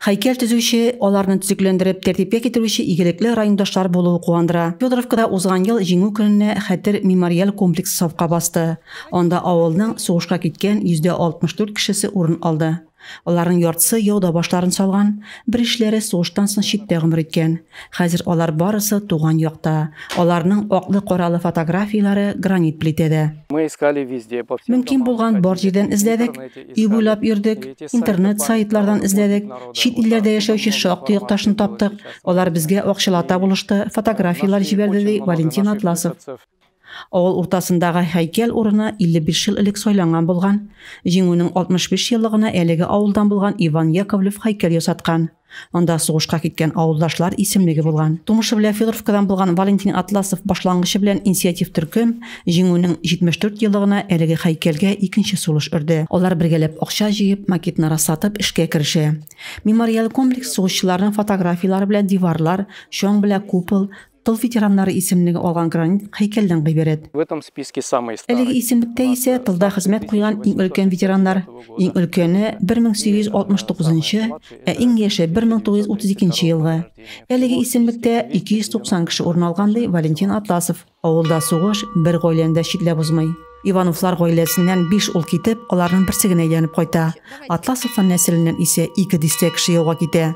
Һәйкәл төзүче, аларны төзекләндереп, тәртипкә китерүче игелекле райондашлар булуы куандыра. Федоровкада узган ел Җиңү көненә хәтер мемориаль комплексы сафка басты. Анда авылның сугышка киткән 64 кешесе урын алды. Аларның яртысы яуда башларын салган, беришләре сугыштан соң читтә гомер иткән. Хәзер алар барысы туган якта. Аларның аклы-каралы фотографияләре гранит плитәдә. Мөмкин булган бар җирдән эзләдек, өй буйлап йөрдек, интернет, сайтлардан эзләдек, чит илләрдә яшәүче шактый якташны таптык, алар безгә акчалата булышты, фотографияләр җибәрде, ди Валентин Атласов. Авыл уртасындагы һәйкәл урыны 55 ел элек сайланган булган. Җиңүнең 65 еллыгына әлеге авылдан булган Иван Яковлев һәйкәл ясаткан. Анда сугышка киткән авылдашлар исемлеге булган. Тумышы белән Федоровкадан булган Валентин Атласов башлангычы белән инициатив төркем Җиңүнең 74 еллыгына әлеге һәйкәлгә икенче сулыш өрде. Алар бергәләп акча җыеп, макетны расатып эшкә керешә. Мемориаль комплекс сугышчыларның фотографияләре белән диварлар, чаң белән купол, Тыл ветераннары исемлеге алган гранит һәйкәлдән гыйбарәт. Әлеге исемлектә исә тылда хезмәт куйган иң өлкән ветераннар, иң өлкәне 1869 нчы, ә иң яше 1932 нче елгы. Әлеге исемлектә 290 кеше урын алган, ди Валентин Атласов. Авылда сугыш бер гаиләне дә читләп узмый. Ивановлар гаиләсеннән биш ул китеп, аларның берсе генә әйләнеп кайта. Атласовлар нәселеннән исә ике дистә кеше яуга китә.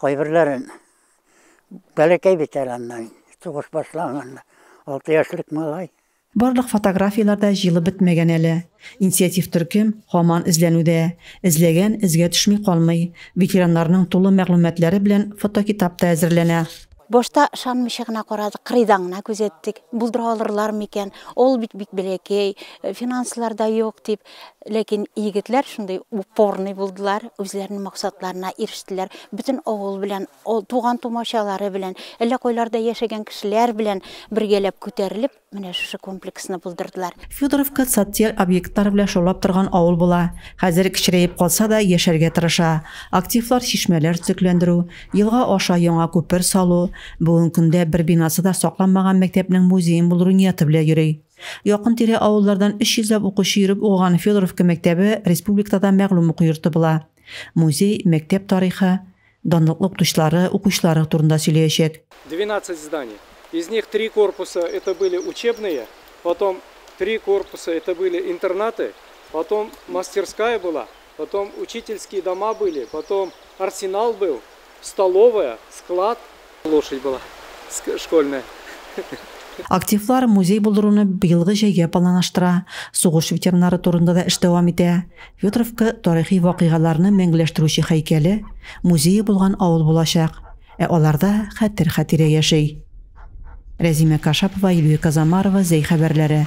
Кайберләрен бәләкәй бит әле аннан, сугыш башланганда, алты яшьлек малай. Барлык фотографияләр дә җыелып бетмәгән әле. Инициатив төркем һаман эзләнүдә. Эзләгән эзгә төшми калмый. Ветераннарның тулы мәгълүматлары белән фотокитап та әзерләнә. Башта ышанмыйча гына карадык, кырыйдан гына күзәттек, булдыра алырлармы икән, авыл бит бик бәләкәй, финанслар да юк дип. Ләкин егетләр шундый упорный булдылар, үзләренең максатларына ирештеләр. Бөтен авыл белән, туган тумачалары белән, әллә кайларда яшәгән кешеләр белән бергәләп күтәрелеп, менә шушы комплексны булдырдылар. Федоровка социаль объектлар белән шаулап торган авыл була. Хәзер кечерәеп калса да, яшәргә тырыша. Активлар чишмәләр төзекләндерү, елга аша яңа күпер салу, бүген көндә бер бинасы да сакланмаган мәктәпнең музеен булдыру нияты белән йөри. Якын-тирә авыллардан 300 ләп укучы йөреп укыган Федоровка мәктәбе республикада да мәгълүм уку йорты була. Музей, мәктәп тарихы, данлыклы укытучылары, укучылары турында сөйләячәк. 12 здание. Из них три корпуса это были учебные, потом три корпуса это были интернаты, потом мастерская была, Потом учительские дома были, потом арсенал был, столовая, склад. Лошадь была школьная. Активлар музей булдыруны быелгы җәйгә планлаштыра. Сугыш ветераннары турында да эш дәвам итә. Федоровка тарихи вакыйгаларны мәңгеләштерүче һәйкәле, музее булган авыл булачак. Ә аларда хәтер-хатирә яши. Рәзимә Кашапова, Илвир Казамарова, Зәй хәбәрләре.